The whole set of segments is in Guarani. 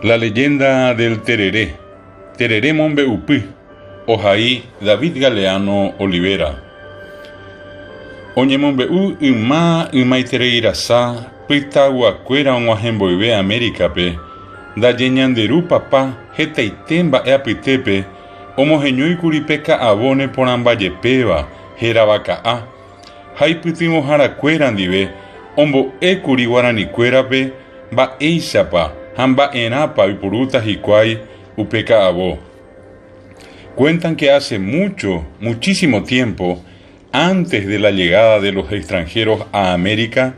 La leyenda del tereré, Terere mombe'upy, ohai David Galeano Olivera. Oñemombe'u yma ymaitereirasa pytaguakuéra og̃uahẽ mboyve Amérika-pe, ndaje ñande Ru Papa hetaite mba'e apytépe omoheñóikuri pe ka'avo neporãmbajepéva hérava ka'a, ha ipytyvõharakuéra ndive ombo'ékuri guaranikuérape mba'éichapa ha mba'erãpa oipurúta hikuái upe ka'avo. Cuentan que hace mucho, muchísimo tiempo, antes de la llegada de los extranjeros a América,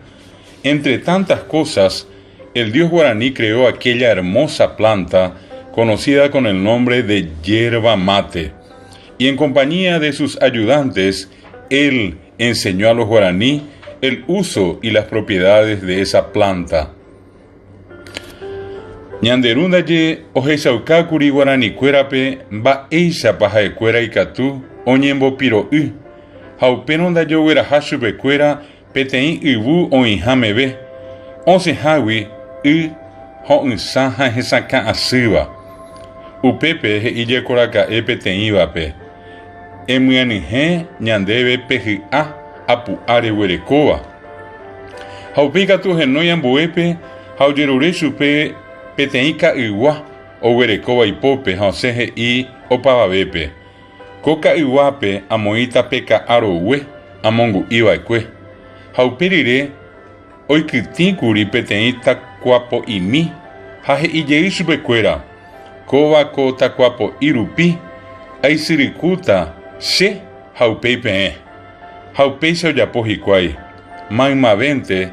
entre tantas cosas, el dios guaraní creó aquella hermosa planta conocida con el nombre de yerba mate. Y en compañía de sus ayudantes, él enseñó a los guaraní el uso y las propiedades de esa planta. Ñande ru ndaje ohechaukákuri guaranikuérape mba'éichapa ha'ekuéra ikatu oñembopiro'y ha upérõ ndaje ogueraha chupekuéra Peteĩ yvu oĩha meve, osẽhágui y ho'ysã ha hesakã asýva. Upépe he'i jekoraka'e peteĩvape, Emyanyhẽ ñandéve pe hy'a apu'a reguerekóva. Ha upéi katu ohenói ambuépe ha ojerure chupe peteĩ ka'ygua oguerekóva ipópe ha osẽ he'i opavavépe, Ko ka'yguápe amoĩta pe ka'a rogue amongu'i va'ekue, ha upe rire oikytĩ kuri peteĩ takuapo'imi ha he'i jey chupe kuéra, Kóva ko takuapo'i rupi aisyrykúta che ha upéi peẽ. Ha upéicha ojapo hikuái, maymavénte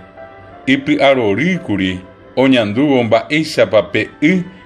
ipy'arory kuri oñandúvo mba'éichapa pe y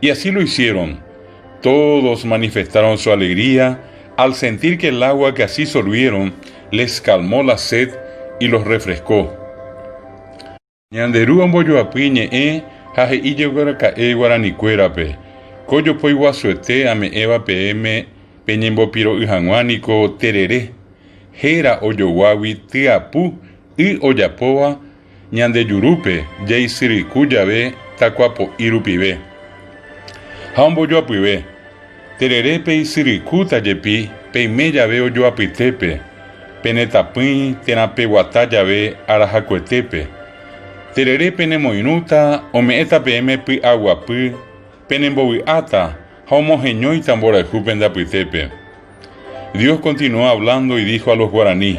Y así lo hicieron. Todos manifestaron su alegría al sentir que el agua que así solvieron les calmó la sed y los refrescó. Ñande Ru ombojoapy ñe'ẽ ha he'i jegueraka'e guaranikuérape, Ko jopói guasuete ame'ẽva peẽme peñembopiro'y hag̃ua niko terere, héra ojoguágui tyapu y ojapóva Ñande jurúpe jaisyryku jave takuapo'i rupive ha ombojoapyve, terere peisyrykúta jepi peime jave ojoapytépe, pene tapỹi térã peguata jave arahakuetépe, terere penemoirũta ome'ẽta peẽme py'aguapy, penembovy'áta ha omoheñóita mborayhu pende apytépe. Dios continúa hablando y dijo a los guaraní.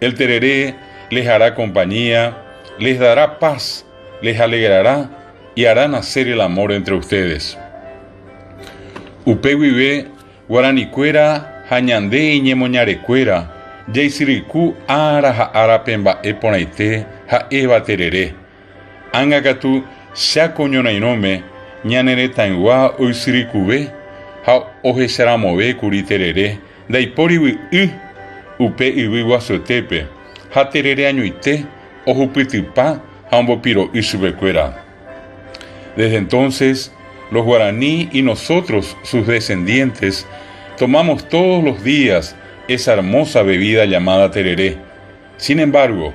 El terere les hará compañía, les dará paz, les alegrará y hará nacer el amor entre ustedes. Upe guive guaranikuéra ha ñande iñemoñarekuéra jaisyryku ára ha árape mba'e porãite ha'éva terere. Ág̃a katu, Cha ko ñorairõme ñane retãygua oisyrykuve ha ohecharamovẽ kuri terere ndaipórigui y upe yvy guasuetépe, ha terere añoite ohupytypa ha ombopiro'y chupekuéra. Desde entonces, los guaraní y nosotros, sus descendientes, tomamos todos los días esa hermosa bebida llamada terere. Sin embargo,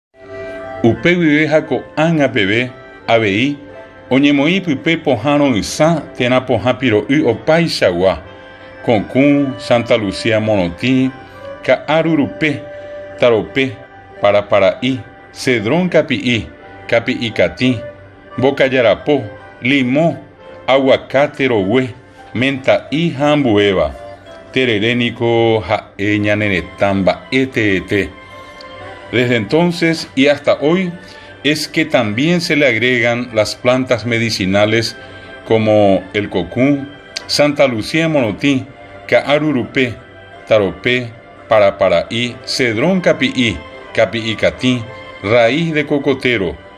Upe guive ha ko'ág̃a peve avei oñemoĩ pype pohã ro'ysã térã pohã piro'y opaichagua, Kokũ, Santa Lucía morotĩ, Ka'aru rupe, Tarope, Parapara'i, Cedrón kapi'i, Kapi'i katĩ, Mbokajarapo, Limo, Aguacate rogue, Menta'i ha ambuéva, terere niko ha'e ñane retã mba'e teete. Desde entonces y hasta hoy es que también se le agregan las plantas medicinales como el cocún, Santa Lucía en morotĩ, ka'aru rupe, tarope, parapara'i, cedrón kapi'i, kapi'i katĩ, raíz de cocotero,